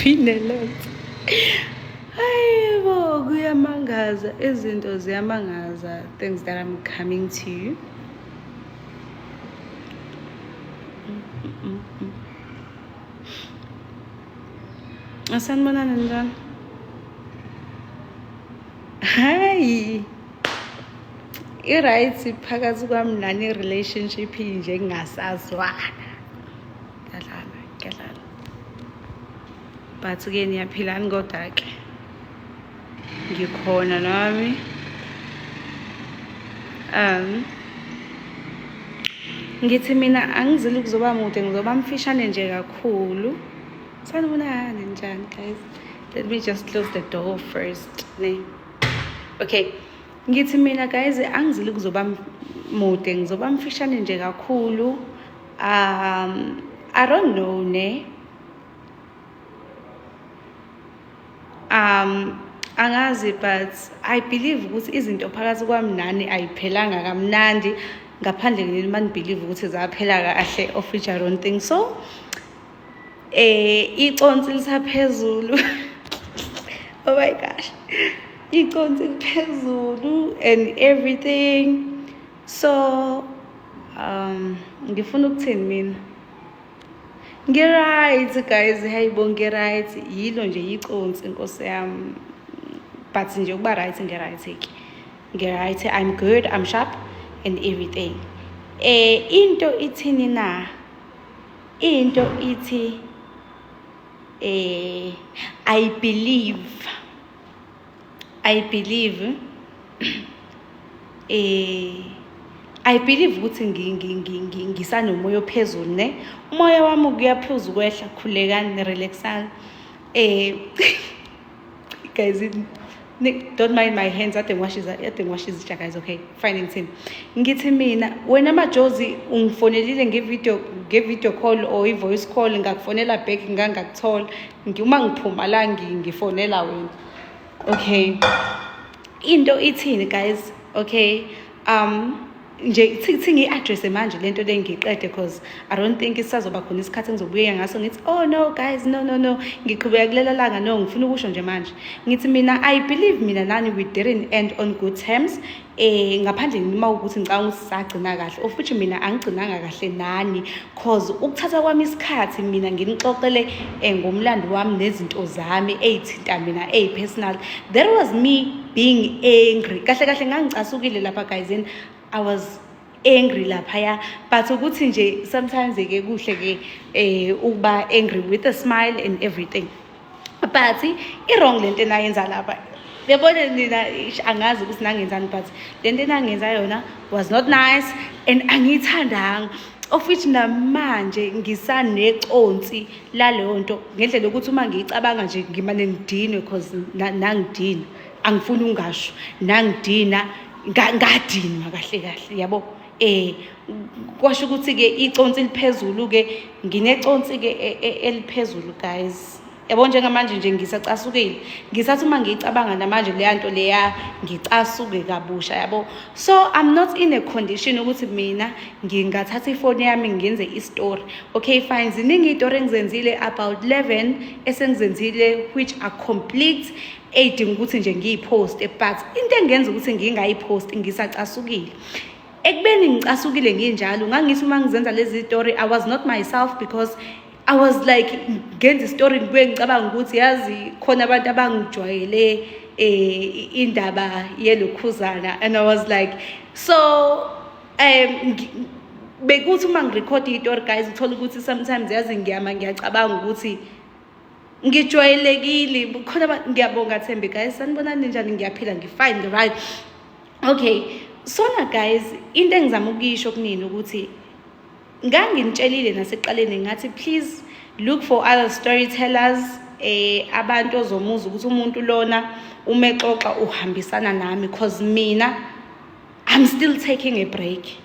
Ineletha. Hayi bo kuyamangaza izinto ziyamangaza things that I'm coming to you. Mm -mm -mm. Ah, saan mo na nandun? Hi! I-right phakathi kwami nani relationship nje ngingasazwana. Ngyadlala, ngyadlala. But ke niyaphilani kodwa ke. ngikhona nami um ngithi mina angizile ukuzoba mude ngizoba mfishane nje kakhulu sanibonani njani guys let me just close the door first ne okay ngithi mina guys angizile ukuzoba mude ngizoba mfishane nje kakhulu um i don't know ne um angazi but i believe ukuthi izinto phakathi kwami nani ayiphelanga kamnandi ngaphandle nini uma nibhilive ukuthi zaphela kahle of which i don't think so eh iconsi lisaphezulu oh my gosh iconsi liphezulu and everything so um ngifuna ukuthini mina Ngi-right guys, hayi bo ngi-right. Yilo nje yiconsi nkosi yami. But nje ukuba right ngi-right ke. Ngi-right, I'm good, I'm sharp and everything. Eh into ithini na? Into ithi eh I believe I believe eh I believe ukuthi ngisanomoya ophezulu ne umoya wami kuyaphuza ukwehla khulekani relaxani eh guys don't mind my hands ade ngiwashiza ade ngiwashiza izitsha guys okay fine ngithini ngithi mina wena majozi ungifonelile ngevideo ngevideo call or i-voice call ngakufonela back ngangakuthola uma ngiphuma la ngifonela wena okay into ithini guys okay um nje kuthi ngiyi-addresse manje lento le ngiqede cause i don't think isazoba khona isikhathi engizobuyeka ngaso ngithi oh no guys no no no ngiqhubeka kulela langa no ngifuna ukusho nje manje ngithi mina i believe mina nani we didn't end on good terms eh ngaphandle nima ukuthi ngicabanga ukuthi sagcina kahle of which mina angigcinanga kahle nani cause ukuthatha kwami isikhathi mina nginixoxele eh, ngomlando wami nezinto zami ezithinta mina ey personal there was me being angry kahle kahle ngangicasukile lapha guys and i was angry laphaya but ukuthi nje sometimes ke kuhle ke eh ukuba angry with a smile and everything but i-wrong lento enayenza lapha yabona nina angazi ukuthi nangenzani but le nto enangenza yona was not nice and angiyithandanga of which namanje ngisaneconsi laleyo nto ngendlela yokuthi uma ngiyicabanga nje ngimane ngidinwe because nangidina angifuni ungasho nangidina ngadinwa kahle kahle yabo eh kwasho ukuthi ke iconsi liphezulu ke ngineconsi ke e, e, eliphezulu guys yabo njengamanje nje ngisacasukile ngisathi uma ngiyicabanga namanje leya nto leya ngicasuke kabusha yabo so i'm not in a condition ukuthi mina ngingathatha ifoni yami ngenze istory okay fine ziningi iy'tori engizenzile about 11 esengizenzile which are complete eyidinga ukuthi nje ngiyiphoste but into engenza ukuthi ngingayiphosti ngisacasukile ekubeni ngicasukile nginjalo ngangithi uma ngizenza lezi story i was not myself because i was like ngenza istory ngibuye ngicabanga ukuthi yazi khona abantu abangijwayele eh indaba yelokhuzana and i was like so um bekuthi uma ngirekhode itori guys uthole ukuthi sometimes yazi ngiyama ngiyacabanga ukuthi ngijwayelekile bukhona ngiyabonga thembi guys sanibonani njani ngiyaphila ngifine right okay sona guys into engizama ukuyisho kunini ukuthi nganginitshelile nasekuqaleni ngathi please look for other storytellers eh abantu ozomuza ukuthi umuntu lona umexoxa uhambisana nami cause mina i'm still taking a break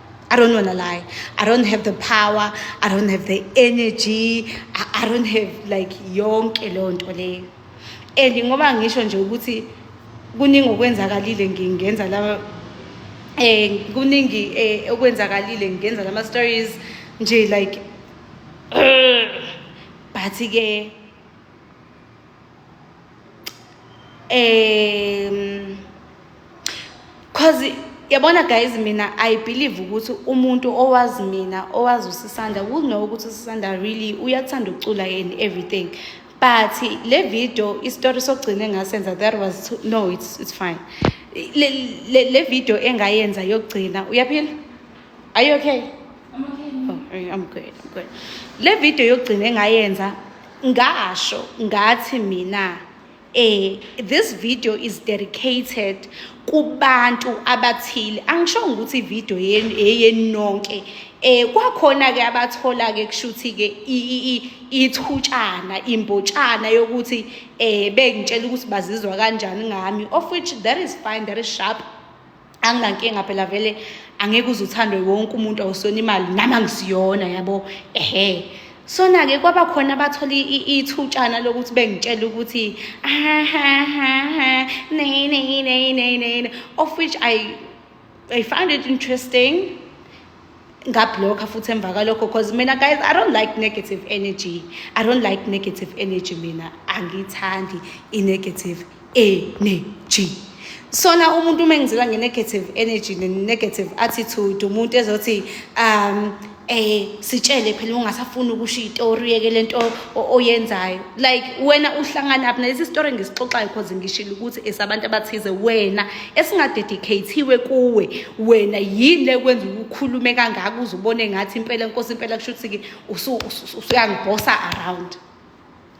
I don't want to lie. I don't have the power. I don't have the energy. I, I don't have like yonke leyo nto leyo. And ngoba ngisho nje ukuthi kuningi okwenzakalile ngingenza la eh kuningi eh, okwenzakalile ngingenza lama stories nje like but ke um cause yabona guys mina i believe ukuthi umuntu owazi mina owazi usisanda kuno ukuthi usisanda really uyakuthanda ukucula yena everything but le video isitori sokugcina engasenza that was too, no it's, it's fine le, le, le video engayenza yokugcina uyaphila are you okay I'm okay. Oh, I'm good, I'm good. Le video yokugcina engayenza ngasho ngathi mina eh this video is dedicated kubantu abathile angisho ukuthi ivideo yenu eyeni nonke eh kwakhona ke abathola ke kushuthi ke ithutshana imbotshana yokuthi eh bengitshela ukuthi bazizwa kanjani ngami of which that is fine that is sharp anginankinga phela vele angeke uze uthandwe wonke umuntu awusona imali nami angisiyona yabo ehe sona-ke kwaba khona abathola ithutshana lokuthi bengitshela ukuthi ahahaha nay nay nay nay nay of which i i find it interesting ngabhlokha futhi emva kwalokho cause mina guys i don't like negative energy i don't like negative energy mina angiyithandi i-negative energy sona umuntu uma engizela nge-negative energy ne-negative attitude umuntu ezothi um eh sitshele phela ungasafuni ukusho itori yeke lento oyenzayo like wena uhlangana apha nalesi story ngisixoxayo because ngishilo ukuthi esabantu abathize wena esingadedicathiwe kuwe wena yini lekwenza ukukhulume kangaka uze ubone ngathi impela inkosi impela kusho ukuthi-ke usuyangibhosa around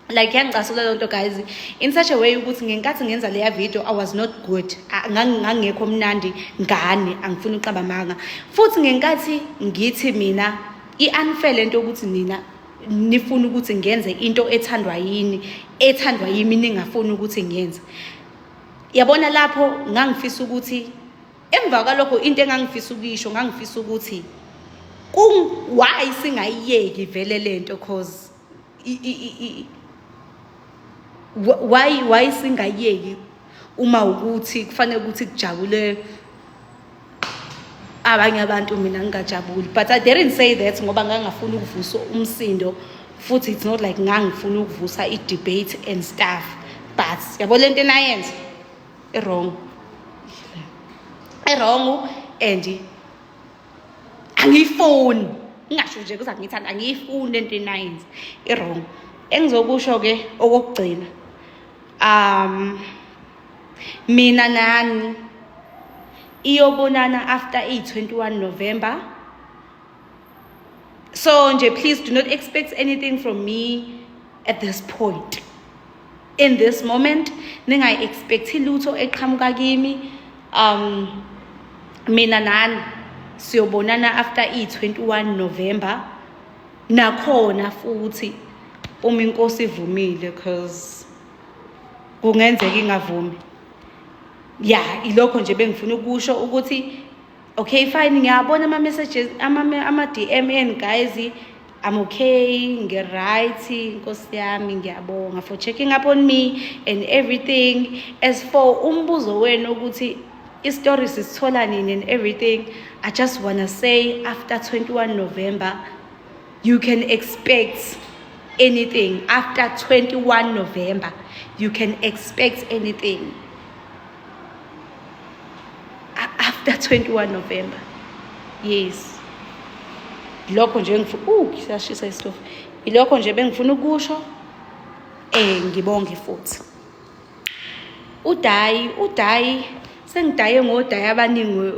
like yangicasula loo nto guys in such a way ukuthi ngenkathi ngenza leya video i was not good ngangingekho mnandi ngane angifuni uqaba manga futhi ngenkathi ngithi mina i-unfair le nto yokuthi nina nifuna ukuthi ngenze into ethandwa yini ethandwa yimi ningafuni ukuthi ngenze yabona lapho ngangifisa ukuthi emva kwalokho into engangifisa ukuyisho ngangifisa ukuthi why singayiyeki vele lento cause why why singayiyeki uma ukuthi kufanele ukuthi kujabule abanye abantu mina ngingajabuli but i didn't say that ngoba ngangafuni ukuvusa umsindo futhi it's not like ngangifuna ukuvusa i-debate and stuff but yabo le nto enayenza i-wrong i-wrong and angiyifuni ngingasho nje kuza ngiyithanda angiyifuni le nto enayenza i-wrong engizokusho-ke okokugcina um mina nani iyobonana after i-21 november so nje please do not expect anything from me at this point in this moment ningayi-expecthi lutho eqhamuka kimi um mina nani siyobonana after i-21 november nakhona futhi uma inkosi ivumile because kungenzeka ingavumi ya ilokho nje bengifuna ukusho ukuthi okay fine ngiyabona ama messages ama ama DM enu guys I'm okay ngiright nkosi yami ngiyabonga for checking up on me and everything as for umbuzo wenu ukuthi istory sisithola nini and everything i just wanna say after 21 november you can expect anything after 21 november you can expect anything after 21 november yes lokho nje ngifuna uh siyashisa isitofu ilokho nje bengifuna ukusho eh ngibonge futhi udayi udayi sengidaye ngodayi abaningi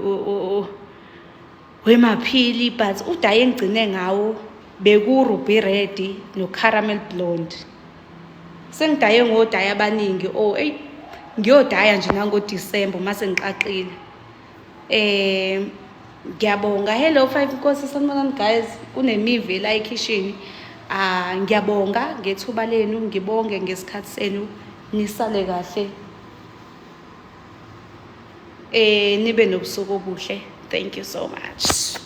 wemaphili but udayi engigcine ngawo bekuruby red nocaramel blonde sengidaye ngodaya abaningi o oh, eyi ngiyodaya nje nangodisemba uma sengiqaqile um ngiyabonga hello five nkosi sanibonani guys kunemivi elayikhishini um ah, ngiyabonga ngethuba lenu ngibonge ngesikhathi senu nisale kahle eh nibe nobusuku obuhle thank you so much